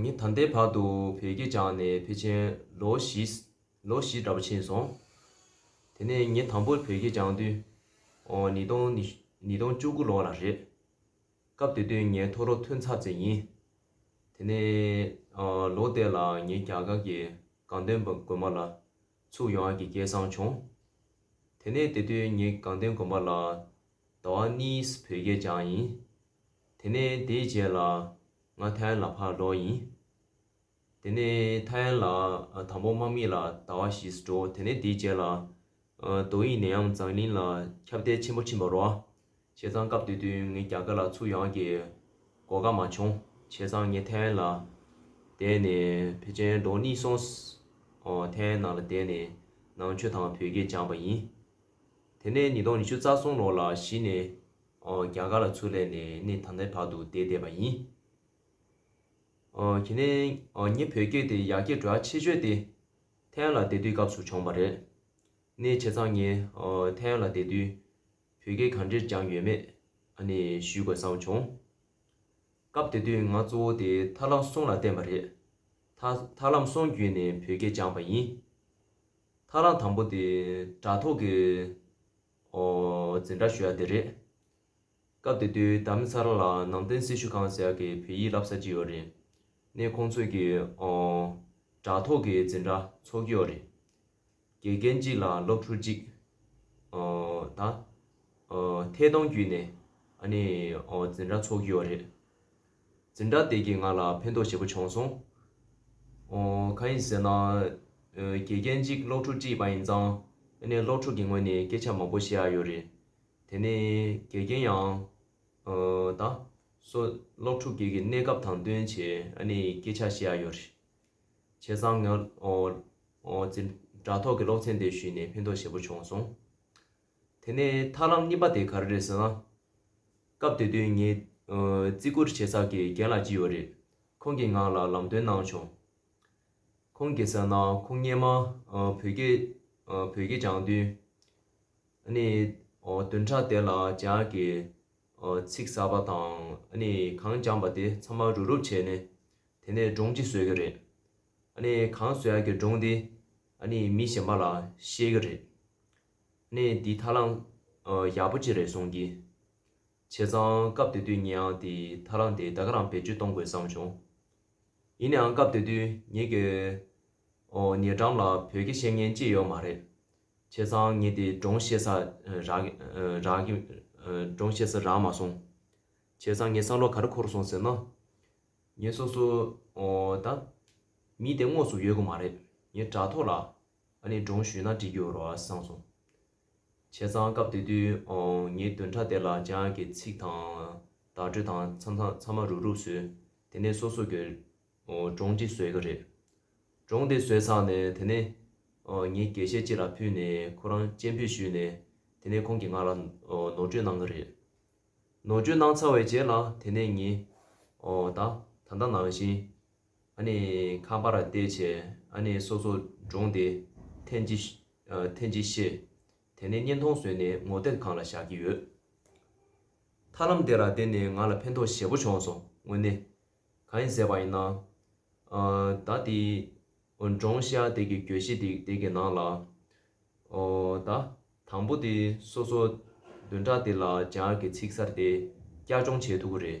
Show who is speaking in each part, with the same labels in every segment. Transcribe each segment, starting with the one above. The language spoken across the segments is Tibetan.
Speaker 1: ངས་ད་ལྟའི་བར་དུ་བོད་སྐད་སྦྱངས་ནས་ཕལ་ཆེར་ལོ་བཞིལོ་བཞི་འདྲ་པོ་ཕྱིན་སོང། དེ་ནས་ངས་དང་པོར་བོད་སྐད་སྦྱངས་དུསཉིས་སྟོངཉིས་སྟོང་བཅུ་དགུ་ལོ་ལ་རེད། སྐབས་དེ་དུས་ངའི་ཐོ་རོ་ཐོན་ཚར་ཚད་ཡིན། དེ་ནས་ལོ་དེ་ལ་ངས་རྒྱ་གར་གྱི་གངས་སྟོན་དགོན་པ་ལ་ཚུགས་ཡོང་ཨ་ཀྱི་སྐལ་བཟང་བྱུང། དེ་ནས་དེ་དུས་ངས་གངས་སྟོན་དགོན་པ་ལ་ཟླ་བ་གཉིས་བོད་སྐད་སྦྱངས་ཡིན། དེ་ནས་དེའི་རྗེས་ལ། ང་ཐའི་ཝན་ལ་ཕར་ལོག་ཡིན། དེ་ནས་ཐའི་ཝན་ལ་དང་པོ་དམག་མི་ལ་ཟླ་བ་བཞི་སུ་འགྲོ་དེ་ནས་དེའི་རྗེས་ལ། རྡོ་དབྱིངས་ནས་ཡང་འཛམ་གླིང་ལ་ཁྱབ་བརྡལ་ཆེན་པོ་ཕྱིན་པར་རོ། བྱས་ཙང་སྐབས་དེ་དུས་ངས་རྒྱ་དཀར་ལ་ཚུར་ཡང་གི་གོ་སྐབས་མ་བྱུང། བྱས་ཙང་ངས་ཐའི་ཝན་ལ་བསྡད་ནས་བེ་ཅན་འགྲོ་གནིས་སོང། ཐའི་ཝན་ནང་ལ་བསྡད་ནས་ནང་ཆོས་དང་བོད་སྐད་སྦྱངས་པ་ཡིན། དེ་ནས་ཉིས་སྟོང་ཉི་ཤུ་རྩ་གསུམ་ལོར་ལ་གཞི་ནས་རྒྱ་གར་ལ་ཚུར་ལས་ནས་ནི་ད་ནའི་བར་དུ་བསྡད་བསྡད་པ་ཡིན། གྱི་ནས། ངེད་བོད་སྐད་དེ་ཡག་སྐད་འགྲོ་ཡག་ཆེ་ཆོད་དེ། ཐའེ་ཡན་ལ་བསྡད་དུས་སྐབས་སུ་བྱུང་བ་རེད། ནས་བྱས་ཙང་ངས་ཐའེ་ཡན་ལ་བསྡད་དུས། བོད་སྐད་གང་འདྲེར་སྦྱངས་ཡོད་མེད་ནི་ཞུས་དགོས་བསམ་བྱུང། སྐབས་དེ་དུས་ང་གཙོ་བོ་དེ་ཐར་ལམ་སོང་ལ་བརྟེན་པ་རེད། ཐར་ལམ་སོང་བརྒྱུད་ནས་བོད་སྐད་སྦྱངས་པ་ཡིན། ཐར་ལམ་དང་པོ་དེ་དྲ་ཐོག་གི། ཨོ། འཛིན་གྲྭ་ཞུ་ཡག་དེ་རེད། སྐབས་དེ་དུས་ད་མི་ཚ་ར་ལ་ནང་བསྟན་སྲི་ཞུ་ཁང་ཟེར་གི་བོད་ཡིག་བསླབ་ས་ཅིག་ཡོད་རེད། ནས་ཁོང་ཚོས་གི་ཨོ། དྲ་ཐོག་གི་འཛིན་གྲྭ་ཚོགས་ཀྱི་ཡོད་རེད། དགེ་རྒན་གཅིག་ལ་སློབ་ཕྲུག་གཅིག། ཨོ། ད། ཨོ། ཐད་གཏོང་བརྒྱུད་ནས་ཨ་ནི་ཨོ་འཛིན་གྲྭ་ཚོགས་ཀྱི་ཡོད་རེད། འཛིན་གྲྭ་དེ་གིས་ང་ལ་ཕན་ཐོགས་ཞེ་པོ་བྱུང་སོང། གང་ཡིན་ཟེར་ན། དགེ་རྒན་གཅིག་སློབ་ཕྲུག་གཅིག་ཡིན་པ་ཡིན་ཙང། ཨ་ནེ་སློབ་ཕྲུག་གི་ངོས་ནས་སྐད་ཆ་མང་པོ་བཤད་ཨ་ཡོད་རེད། དེ་ནས་དགེ་རྒན་ཡང། ད། སོ། སློབ་ཕྲུག་གེགས་ཀྱི་གནས་སྐབས་དང་བསྟུན་བྱས་ཨ་ནེ་ཡིས་སྐད་ཆ་བཤད་ཨ་ཡོད་རེད། བྱས་ཙང་ང། འཛིན་གྲྭ་ཐོག་གི་སློབ་ཚན་དེ་ཞུས་ནས་ཕན་ཐོགས་ཞེ་པོ་བྱུང་སོང། དེ་ནས་ཐར་ལམ་གཉིས་པ་དེ་ག་རེ་རེད་ཟེར་ན། སྐབས་དེ་དུས་ངའི། བརྩི་བཀུར་བྱེད་ས་གི་རྒན་ལགས་གཅིག་ཡོད་རེད། ཁོང་གི་ངག་ལ་ལམ་སྟོན་གནང་བྱུང། ཁོང་གིས་ཟེར་ན་ཁོང་སྙན་མ། བོད་སྐད། བོད་སྐད་སྦྱང་དུས། ནི། བདུན་ཕྲག་དེ་ལ་ཇག་གི། ཚིག་ཟ་བ་དང་ནི་གང་སྦྱངས་པ་དེ་ཚང་མ་རུབ་རུབ་བྱས་ནས། དེ་ནས་སྒྲུང་གཅིག་བཟོས་གི་རེད། ནི་གང་ཟོས་ཡག་གི་སྒྲུང་དེ། ནི་མི་གཞན་པ་ལ་བཤད་གི་རེད། གནས་འདི་ཐར་ལམ་ཡག་པོ་གཅིག་རེད་གསུངས་ཀྱི། བྱས་ཙང་སྐབས་དེ་དུས་ངེད་དེ་ཐར་ལམ་དེ་ད་ག་རང་བེད་སྤྱོད་གཏོང་དགོས་བསམ་བྱུང། ཡིན་ནའང་སྐབས་དེ་དུས་ངེད་ཀྱི་ཉེ་འགྲམ་ལ་བོད་སྐད་ཤེས་མཁན་གཅིག་ཡོད་མ་རེད། བྱས་ཙང་ངེད་དེ་སྒྲོང་ཤེས་ས་རག་མ་སོང། བྱས་ཙང་ངེད་བསམ་བློ་ག་རེ་འཁོར་སོང་ཟེར་ན། ངེད་སོ་སོ་ད་མི་དེ་དངོས་སུ་ཡོད་གི་མ་རེད། ངེད་དྲ་ཐོག་ལ། ཨ་ནི་འབྲོང་ཞུས་ན་འདྲི་རྒྱུ་རོ་ཨ་སངས་སོང། བྱས་ཙང་སྐབས་དེ་དུས་ངའི་བདུན་ཕྲག་དེ་ལ་ཅང་ཡག་གི་ཚིག་དང། བརྡ་སྤྲོད་དང་ཚང་མ་རུབ་རུབ་བཟོས། དེ་ནས་སོ་སོ་གི་འབྲོང་གཅིག་བཟོས་གི་རེད། འབྲོང་དེ་བཟོས་ཚར་ནས་དེ་ནས། ངའི་དགེ་བཤེས་གཅིག་ལ་ཕུལ་ནས་ཁོ་རང་སྤྱན་འབུད་ཞུས་ནས་དེ་ནས་ཁོང་གིས་ང་ལ་ནོར་བཅོས་གནང་གི་རེད། ནོར་བཅོས་གནང་ཚར་བའི་རྗེས་ལ་དེ་ནས་ངས། ད་ད་ལྟ་ནང་བཞིན། ཨ་ནི་ཁང་པ་ར་བལྟས་བྱས་ཨ་ནི་སོ་སོ་འདྲོངས་ཏེ་ཐེན་ཅི། ཐེན་ཅི་ཤེས། དེ་ནས་བརྙན་ཐུང་བཟོས་ནས་ངོ་དེབ་ཁང་ལ་བཞག་གི་ཡོད། ཐར་ལམ་དེ་ར་བལྟས་ནས་ང་ལ་ཕན་ཐོགས་ཞེ་པོ་བྱུང་སོང་དངོས་གནས། གང་ཡིན་ཟེར་བ་ཡིན་ན། ད་དེ། འབྲོང་ཤ་དེ་གི་གྱོད་གཞི་དེ་དེ་གི་ནང་ལ། ད། དང་པོ་དེ་སོ་སོ་བདུན་ཕྲག་དེ་ལ་སྦྱང་གི་ཚིག་གསར་དེ་བསྐྱར་སྦྱོང་བྱས་ཐུབ་པོ་རེད།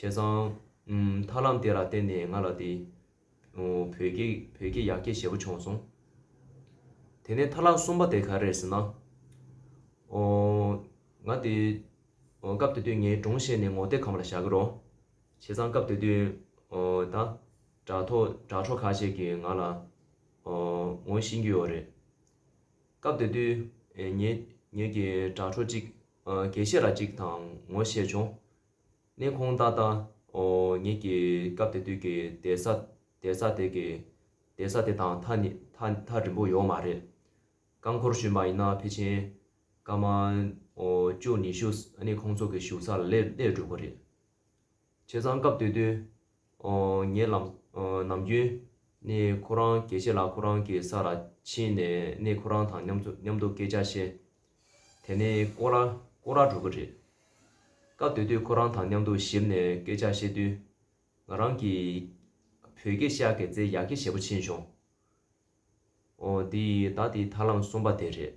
Speaker 1: བྱས་ཙང། ཐར་ལམ་དེ་ལ་བརྟེན་ནས་ང་ལ་དེ། བོད་སྐད་བོད་སྐད་ཡག་སྐད་ཞེ་པོ་བྱུང་སོང། དེ་ནས་ཐར་ལམ་གསུམ་པ་དེ་ག་རེད་ཟེར་ན། ཨོ། ང་དེ། སྐབས་དེ་དུས་ངའི་སྒྲུང་བཤད་ནས་ངོ་དེབ་གམ་ལ་བཞག་གི་རོགས། བྱས་ཙང་སྐབས་དེ་དུས། ད། དྲ་ཐོག་དྲ་གྲོགས་ཁ་ཤས་ཀྱིས་ང་ལ། ངོ་ཤེས་ཀྱི་ཡོད་རེད། སྐབས་དེ་དུས། ངེད་ཀྱི་དྲ་གྲོགས་གཅིག་དགེ་བཤེས་ལ་གཅིག་དང་ངོ་བཤད་བྱུང། གནས་ཁོང་ཏག་ཏག་ཨོ་ཉིད་ཀྱི་སྐབས་དེ་དུས་ཀྱི་གདན་ས་གདན་ས་དེ་གི་གདན་ས་དེ་དང་ཐག་ནི་ཐག་ཐག་རིང་པོ་ཡོད་མ་རེད། རྐང་འཁོར་བཞིན་པ་ཡིན་ན་ཕལ་ཆེན་སྐར་མ་ཨོ་བཅུ་ཉི་ཤུ་ཨ་ནི་ཁོང་ཚོ་གི་བཞུགས་ས་ལ་སླེབས་སླེབས་འགྲོ་དགོས་རེད། བྱས་ཙང་སྐབས་དེ་དུས། ངའི་ལམ། ནམ་རྒྱུན། ནི་ཁོ་རང་གལ་ཆེ་ལ་ཁོ་རང་གི་ས་ལ་ཕྱིན་ནས་ནི་ཁོ་རང་དང་མཉམ་དུ་མཉམ་དུ་སྐད་ཆ་བཤད། དེ་ནི་ཀོ་ར། ཀོ་ར་གྲོགས་པོ་རེད། སྐབས་དེ་དུས་ཁོ་རང་དང་མཉམ་དུ་ཞིབ་ནས་སྐད་ཆ་བཤད་དུས། ང་རང་གིས། བོད་སྐད་ཤག་གེ་ཙེ་ཡག་གེ་ཞེ་པོ་ཕྱིན་བྱུང། ཨོ། དེ་ཡིས་ད་དེའི་ཐར་ལམ་གསུམ་པ་དེ་རེད།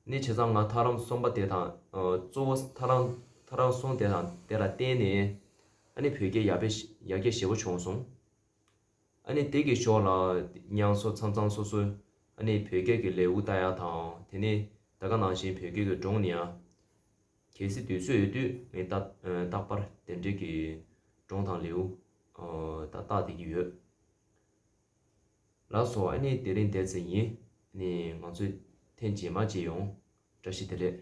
Speaker 1: ནི་བྱས་ཙང་ང་ཐར་ལམ་གསུམ་པ་དེ་དང། གཙོ་བོ་ཐར་ལམ་ཐར་རང་གསུངས་དེ་དང་དེ་ལ་བརྟེན་ནས། ཨ་ནི་བོད་སྐད་ཡག་པས་ཡག་སྐད་ཞེ་པོ་བྱུང་སོང། ཨ་ནི་དེ་གི་ཞོགས་ལ། དབྱངས་སོགས་ཚང་ཚང་སོ་སོ། ཨ་ནི་བོད་སྐད་ཀྱི་ལེའུ་བལྟ་ཡ་དང་དེ་ནི་ད་ག་ནང་བཞིན་བོད་སྐད་ཀྱི་སྒྲུང་ནི་ཡ། གལ་སྲིད་དུས་ཚོད་ཡོད་དུས་ངས་ད་རྟག་པར་དེ་འབྲེལ་གྱི་སྒྲུང་དང་ལེའུ། ད་བལྟ་དེ་གི་ཡོད། ལགས་སོ་ཨ་ནི་དེ་རིང་འདས་ཚེ་ཡིན། ནི་ང་ཚོས་ཐེངས་རྗེས་མ་བརྗེད་ཡོང། བཀྲ་ཤིས་བདེ་ལེགས།